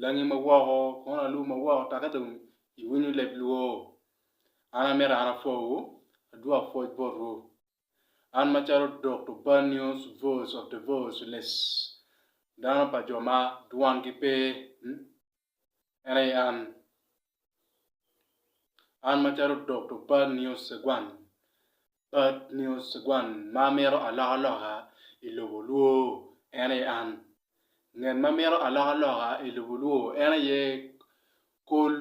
langi ma woko kono alub ma woko taka dong iwinyo leb lwor. An amito an apwowu, adwok pwoc botwu. An macalo Dokto Banios Voice of the Voiceless, dano pa jo ma dwangi pe, en aye an. An macalo Dokto Bad Nio Segwan, Bad Nio Segwan ma amito alokaloka i lobo olwo, en aye an. Ngat ma mito alokaloka i lobo olwo en aye kol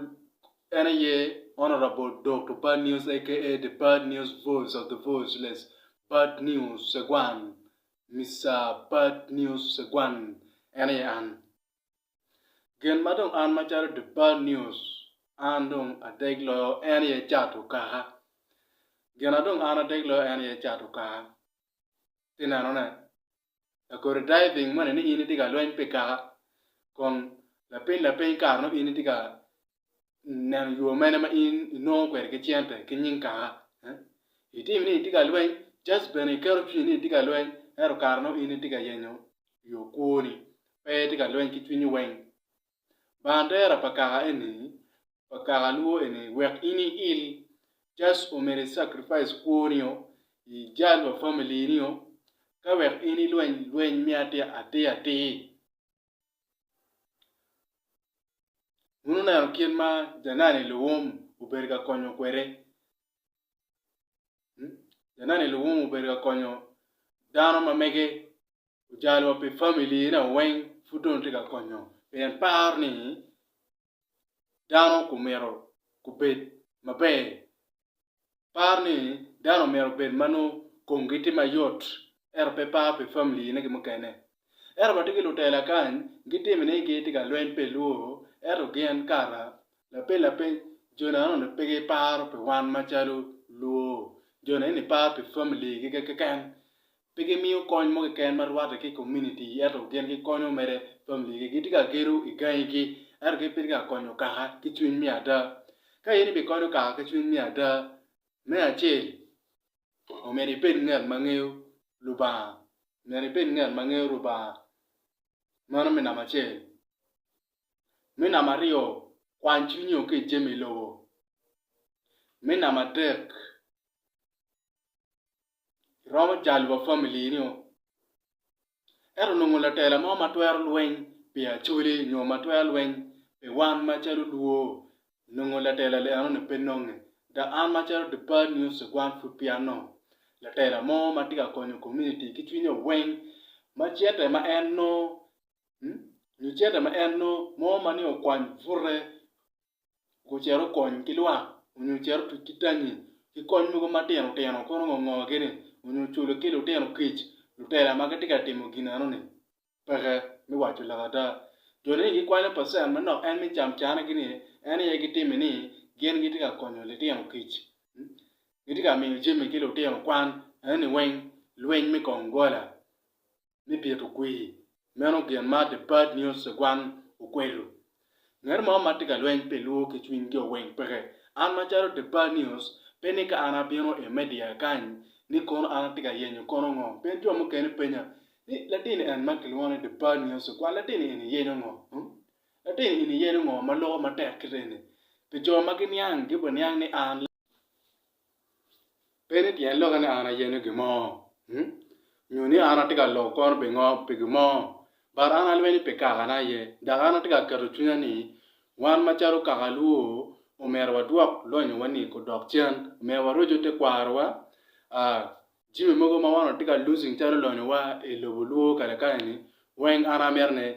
en aye Honourable Dokto Bad Nio aka The Bad Nio Voice of the Voiceless, Bad Nio Segwan, Mister Bad Nio Segwan, en aye an. Gin ma dong an macalo The Bad News an dong adeg loyo en aye cato kaka. Gina dong an adeg loyo en aye cato kaka. Ci inenone, lakoti diving moni ni in itye ka lweny pi kaka kun lapiny lapiny kare nongo in itye ka neno yo mene ma in inongo kwede ki cente ki nying kaka itimi ni itye ka lweny just bene iketo cwinyi ni itye ka lweny ento kare nongo in itye ka yenyo yo kwoni pe itye ka lweny ki cwinyi weng bandera pa kaka eni pa kaka lwo eni wek in iil just omyero i sacrifice kwoni o ijal wa family ni o ka wek in ilweny lweny me atir atir Wun wuneno kit ma janani luwum obedo ka konyo kwede. Janani luwum obedo ka konyo dano ma mege ojalo wa pi family ne weng pud dong tye ka konyo pien paro ni dano omyero gubed maber. Par ni dano omyero obed ma nongo komgi tye mayot ento pe par pi familiyine ki mukene. Ento watye ki lutela kany gitimi ni gitye ka lweny pi lwo ento gin kara lapeny lapeny jo nononi pe giparo pi wan macalo lwo, jo nononi giparo pi familigi keken. Pe gimiyo kony mo keken ma rwatte ki komuniti ento gin gikonyo mere familigi. Gitye ka gedo i gangigi ento gin pe gitye ka konyo kaka ki cwiny me ada. Ka in ibikonyo kaka ki cwiny me ada, me acel, omyero ibed ngat ma ngeyo Lubanga, omyero ibed ngat ma ngeyo Lubanga. Meno me namba acel. Me namba aryo, kwany cwinyi o ki i jami lobo. Me namba adek. iromo jalo wa family ni o ento nongo latela mo ma twero lweny pi acholi nyo ma twero lweny pi wan macalo luo nongo latela li enoni pe nonge dok an macalo deparred news one pud pe anongo latela mo ma tye ka konyo komuniti ki cwinye weng ma cente ma en nongo nyo cente ma en nongo mo ma nongo okwany bute gucit okony ki lwak onyo ocit otuc ki tangi ki kony mogo matino tino kono ngo ngo gi ni onyo oculo ki lutino kic lutela ma gitye ka timo gin eno ni peke me waco lok ada jo ni gikwanyo pacen manok en me cam cane gi ni en aye gitimi ni gin gitye ka konyo litino kic gitye ka miyo jami ki litino kwan eno ni weng lweny me kong gola ni bito kwir. Meno gin ma The Bad News Segwang okwelo. Ngat mo ma tye ka lweny pi lwo ki cwiny jo weng peke. An macalo The Bad News, pe ni ka an abino i media kany ni kono an atye ka yenyo kono ngo. Pien jo mukene penya ni latin en ma kilwongo ni The Bad News Segwang latin eni yenyo ngo? Hum? Latin eni yenyo ngo ma loko matek kite eni? Pi jo ma giniang, gibiniang ni an. Pe ni pien lokke ni an ayeno gin mo, nyo ni an atye ka loko kona pi gin mo, but an alweny ni pi kaka na aye. Dok an atye ka keto cwinya ni wan macalo kaka alwo omyero wadwok lonyo wa ni odok cen, omyero warocu tekwaro wa, jami mogo ma wan watye ka losing calo lonyo wa i lobo olwo kare kare ni weng an amito ni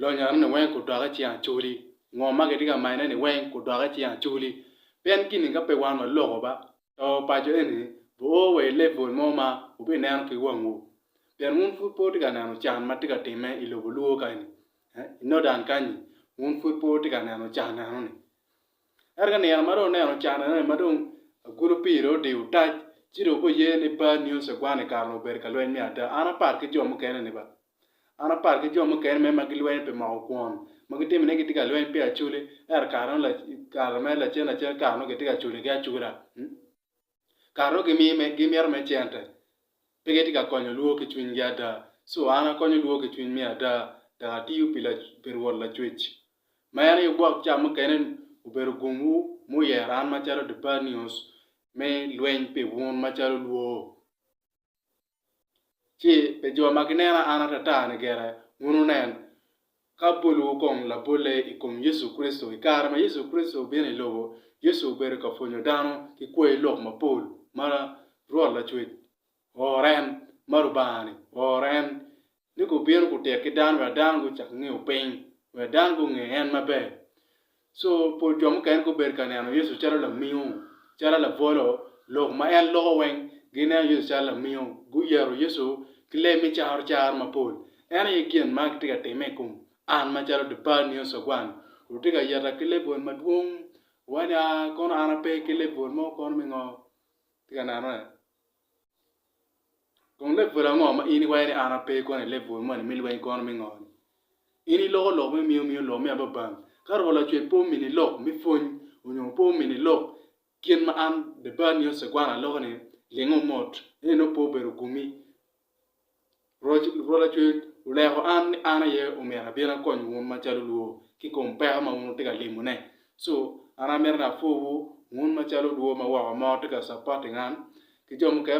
Lonyo-ni weng kudok i cing Acoli. Ngo ma kitye ka manyone-ni weng kudok i cing Acoli. Pien kini ka pe wan waloko ba, to paco eni bioo wa i level mo ma wubineno ki wangwu. Pien wun pud pe wutye ka neno can ma tye ka timme i lobo Luo kany-ni, i Northern kany-ni, wun pud pe wutye ka neno can enoni. Ento ka nino ma dong wuneno can enoni ma dong agulu pii dong odiyo otac, ci dong wubiye ni Bad News Egwani kare-ni obedo ka lweny me ada. An apat ki jo mukene-ni ba. An apar ki jo mukene me ma gilwenyo pi moko kwon ma gitimi ni gitye ka lweny pi acoli, ento kare-nu, kare me lacen lacen, kare-nu gitye ka culigi acula. Kare-nu gimito me cente, pe gitye ka konyo lwor ki cwinygi ada. Cu an akonyo lwor ki cwiny me ada, dok atiyo pi Rwot Lacwec, ma en aye gwok ca mukene obedo gumwu ma oyero an macalo Debanius me lweny pi wun macalo lwor. ci pi jo ma ginena an atata-ni gire, wunu nen, ka bolwu kong labolle i kom Yecu Kricito. I kare ma Yecu Kricito obino i lobo, Yecu obedo ka pwonyo dano ki kwai lok mapol ma Rwot Lacwec ooro en, ma Lubanga-ni ooro en. ni gubino gutit ki dano wek dano gucak ngeyo piny, wek dano gunge en maber. Co pol jo mukene gubedo ka neno Yecu calo lamingo, calo labolo, lok ma en loko weng. Gineno Yecu calo lamingo, guyero Yecu ki lee me caro caro mapol. En aye gin ma gitye ka timme i kom an macalo Dipal nio Cogwan. Wutye ka yeta ki lebwol madwong, wanya, kono an ape ki lebwol mo kono me ngo? Itye ka nenone? Kun lebwel ango ma in iwaco ni an ape koni lebwel moni me lweny kono me ngo ni? In iloko lok me miyo miyo lok me ababang. Ka Roho Lacwe pe omini lok me pwony onyo pe omini lok kit ma an Debarni Osegwana aloko ni, lingo mot, ento nongo pe obedo gumi. Rwot Acwec oleko an ni an aye omyero abin akony wun macalo lwor ki kom peko ma wun wutye ka limone. Co, an amito ni apwowu, wun macalo lwor ma woko mo tye ka capoting an, ki jo mukene.